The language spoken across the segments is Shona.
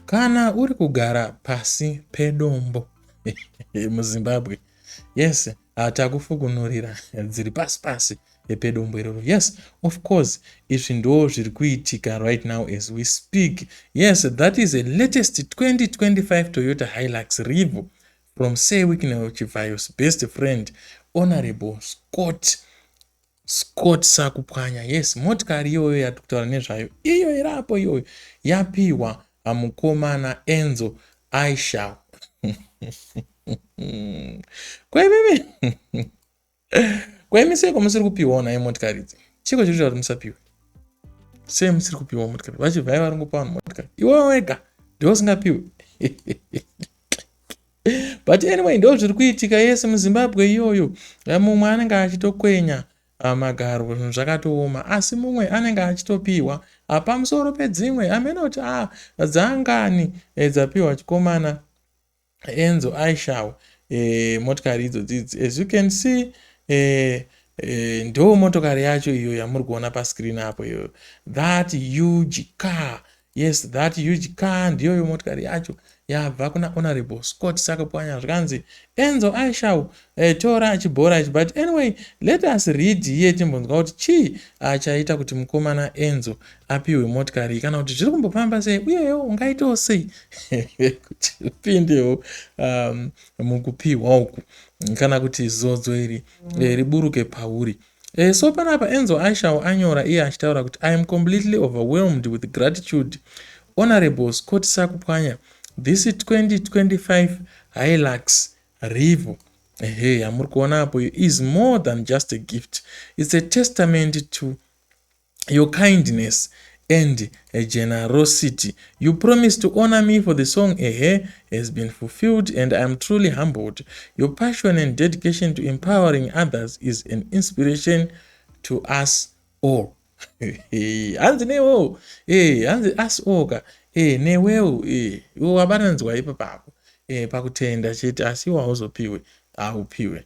kana uri kugara pasi pedombo muzimbabwe yes ah, takufukunurira dziri pasi pasi pedombo iroro yes of course izvi ndo zviri kuitika right now as we speak yes that is a latest 2025 toyota hilux revo from sewiknel chivayos best friend honorable scott Scott sakupwanya yes motikari iyoyo yatikutaura nezvayo iyo iri apo iyoyo yapihwa amukomana enzo aishal kwemimi kwemi seko musiri kupihwawo naye motikari idzi chiko chiri kuti musapihwe sei musiri kupihwa motikari vachibvai vari ngopa vanhu motikari iwe wega ndiwo usingapihwe but anyway ndo zviri kuitika yese muzimbabwe iyoyo eh, mumwe anenge achitokwenya ah, magaro zvinhu zvakatooma asi mumwe anenge achitopiwa ah, pamusoro pedzimwe amenoti a dzangani eh, dzapiwa chikomana enzo aishawo e, motikari idzo dzidzi as you can see e, e, ndo motokari yacho iyo yamuri kuona pascreen apo iyoyo that huge car Yes, that huge car ndiyoyo motikari yacho yabva kuna honorable Scott Sakapwanya zvikanzi Enzo I shall uh, eh, tora achibhora ichi but anyway let us read here timbonzwa kuti chii achaita ah, kuti mukomana Enzo apiwe motikari kana kuti zviri kumbofamba sei uyewo ungaitawo sei kuti upindewo um, mukupiwa uku kana kuti zodzo iri eh, riburuke pauri Eh, so panapa enzo aishawo anyora iye achitaura kuti i am completely overwhelmed with gratitude honorable scott sakupwanya this 2025 hilux rivo ehe yamuri kuona apo iyo is more than just a gift its a testament to your kindness and eh, generosity you promised to honor me for the song ehe eh, has been fulfilled and i am truly humbled your passion and dedication to empowering others is an inspiration to us all hanzi newewo e hanzi us all ka e newewo e wabananzwa ipo papo e pakutenda chete asi iwo hauzopiwe haupiwe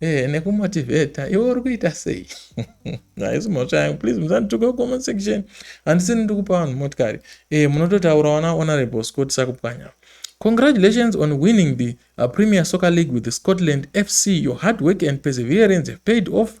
Eh, nekumotivheta iwe uri kuita sei haisi mhosva yangu please musandituke kucomment section handisini ndiri kupa vanhu motikari eh, munototaura wana honorable scott sakupwanya congratulations on winning the uh, premier soccer league with the scotland fc your hard work and perseverance have paid off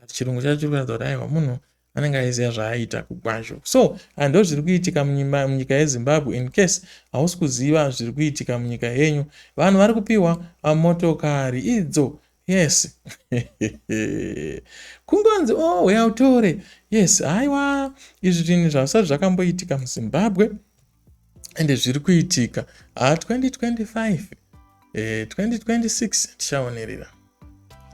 but chirungu chacho chiri kuratidza kuti aiwa munhu anenge aiziva zvaaita kugwazho so hando zviri kuitika munyika yezimbabwe in case hausi kuziva zviri kuitika munyika yenyu vanhu vari kupiwa motokari idzo yes kungonzi o oh, uya utore yes haiwa izvi zvinhu zvavisati zvakamboitika muzimbabwe and zviri kuitika ha ah, 2025 eh, 2026 tichaonerera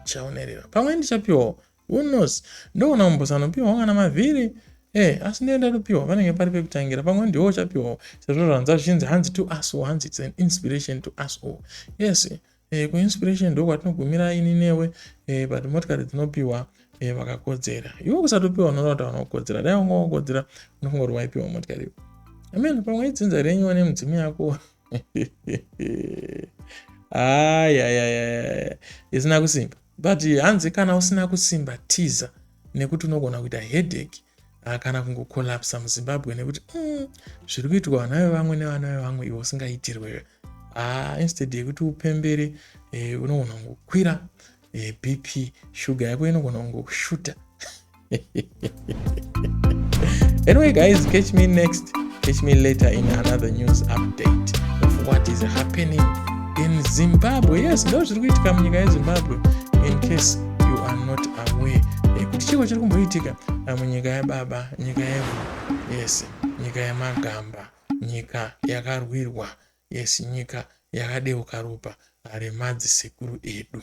tichaonerera pamwe ndichapiwawo who knows ndoona umbosanopiwawo kana mavhiri Eh, asi ndiye ndatopiwa panenge pari pekutangira pamwe ndiwo uchapiwawo sezvo zvanza zvichinzi hanzi to us all hanzi its an inspiration to us all yes eh, kuinspiration ndokwatinogumira ini newe eh, but motikari dzinopiwa eh, vakakodzera iwe kusatopiwa unoona kuti havana kukodzera dai wanga wakodzera unofunga kuti waipiwa motikari iwe amen pamwe idzinza renyu wane mudzimu yako ayayayaya isina kusimba but hanzi kana usina kusimba tiza nekuti unogona kuita headache Ah, kana kungokolapsa muzimbabwe nekuti mm, zviri kuitwa vana vevamwe nevana vevamwe ivo usingaitirwe ah, instead yekuti upembere eh, unogona kungokwira eh, bp shuga yako inogona kungoshuta anyway guys catch me next catch me later in another news update of what is happening in zimbabwe yes ndo zviri kuitika munyika yezimbabwe in case you are not aware eh, kuti chiko chiri kumboitika Amu nyika yababa, nyika yevu, yes, nyika yamagamba, nyika yakarwirwa, yes, nyika yakadeuka ropa remadzsekuru edu.